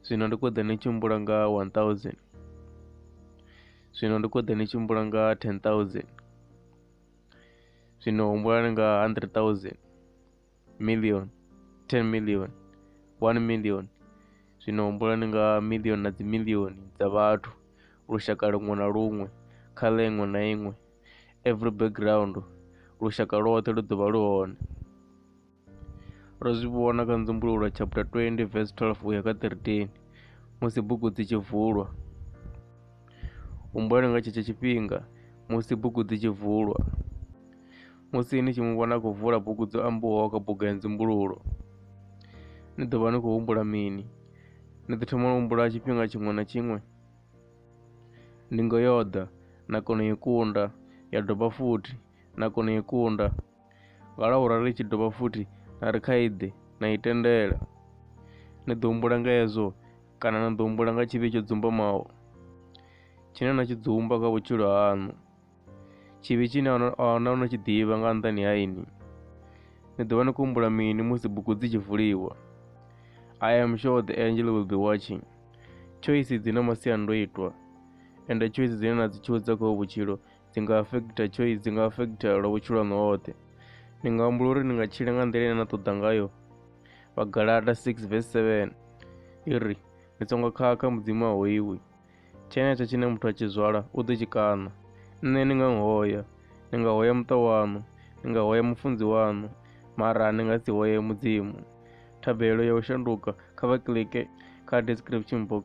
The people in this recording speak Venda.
zwino ndi kho ḓe ni tshi mbula nga 1000 zwino ndi kho ḓe ni tshi mbula nga 10000 zwino humbulani nga 100000 million 10 million 1 million zwino humbulani nga million na dzi million dza vhathu lushaka luṅwe na luṅwe kha ḽeṅwe na iṅwe every background lushaka lwoṱhe lu ḓovha lu hone ro zwi vhona kha nzumbululo chapter 20 verse 12 uya kha 13 musi bugu dzi tshi vulwa humbulani nga tshetsho tshifhinga musi bugu dzi tshi vulwa Musi ni tshi mu vhona a khou vula bugu dzo ambiwaho kha buga ya nzumbululo, ni ḓo vha ni khou humbula mini? Ni ḓo thoma u humbula tshifhinga tshiṅwe na tshiṅwe. Ndingo yo ḓa, na kona u i kunda, ya dovha futhi, na kona u i kunda. Nga laura ri tshi dovha futhi na ri kha iḓe, na i tendela. Ni ḓo humbula nga hezwo, kana na ḓo humbula nga tshivhi tsho dzumbamaho tshine na tshi dzumba kha vhutshilo haṋu. Tshivhi tshine ahuna no tshi ḓivha nga nṱhani ha ini. Ni ḓovha ni khou humbula mini musi bugu dzi tshi vuliwa? I am sure the angel will be watching. Choice dzi na masiandoitwa ende choice dzine na dzi tshuza kha vhutshilo dzi nga affecta choice dzi nga affecta lwa vhutshilo haṋu hoṱhe ni nga humbula uri ni nga tshila nga nḓila ine na ṱoḓa ngayo vhagalata 6 vs 7 i ri ni songo khakha mudzimu a hoiwi tshenetsho tshine muthu a tshi zwala u ḓo tshi kaṋa nṋe ni nga hoya ni nga hoya muṱa waṋu ni nga hoya mufunzi waṋu mara ni nga si hoye mudzimu thabelo ya u shanduka kha vha kilike kha description box